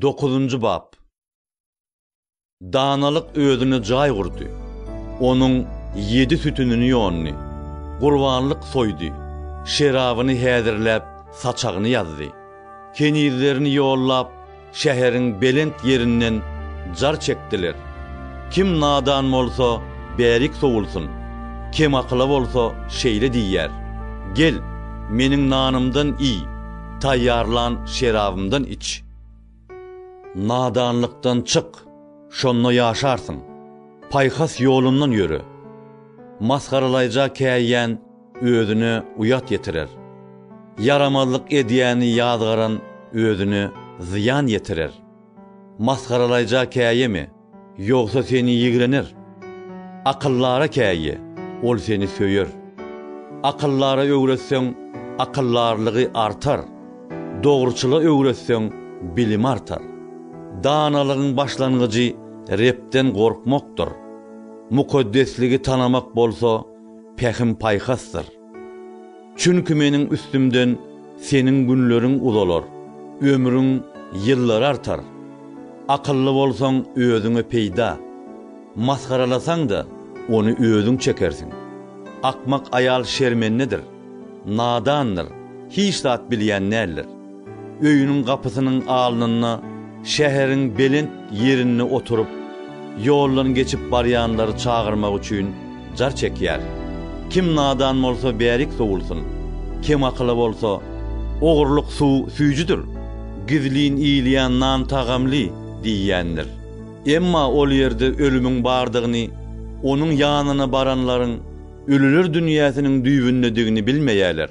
Dokuzynjy bap. Danalyk özüne jaý gurdy. Onuň ýedi sütünini ýondy. Gurbanlyk soýdy. Şerabyny häzirläp, saçagyny ýazdy. Kenizlerini ýollap, şäheriň belent ýerinden jar çekdiler. Kim nadan bolsa, bärik sowulsyn. Kemakyla bolsa şeýle diýýär, Gel, meniň nanymdan iý. Taýýarlan şerabymdan iç. Nadanlykdan çyk, şonda ýaşarsyň. Paýhas ýolundan ýöre. Masgaralaýja käýýän özüne uýat ýetirer. Ýaramazlyk edýäni ýazgaran özüne zyýan ýetirer. Masgaralaýja käýeme. Ýogsa seni ýigrener. Akyllara käýe, ol seni söýer. Akyllara öwretseň, akyldarlygy artar, dogruçyla öwretseň, bilimi artar. Danalygyň başlangyjy Rebden gorkmakdyr. Mukaddesligi tanamak bolsa pähim-paýhasdyr. Çünki meniň üstümden seniň günleriň uzalar, ömrüň ýyllary artar. Akylly bolsaň, özüňe peýda, masgaralasaň-da, ony özüň çekersiň. Akmak aýal şermendedir, nadandyr, hiç zat bilýän däldir. Öýüniň gapysynyň alnynda şäheriň belent ýerinde oturyp, ýoldan geçip barýanlary çagyrmak üçin jar çekýär. Kim nadan bolsa bärik sowulsyn, kem akyly bolsa, Ogurlyk suw süýjüdir, gizlin iýilýän nan tagamly diýýändir. Emma ol ýerde ölümiň bardygyny, onuň ýanyna baranlaryň ölüler dünýäsiniň düýbündedigini bilmeýärler.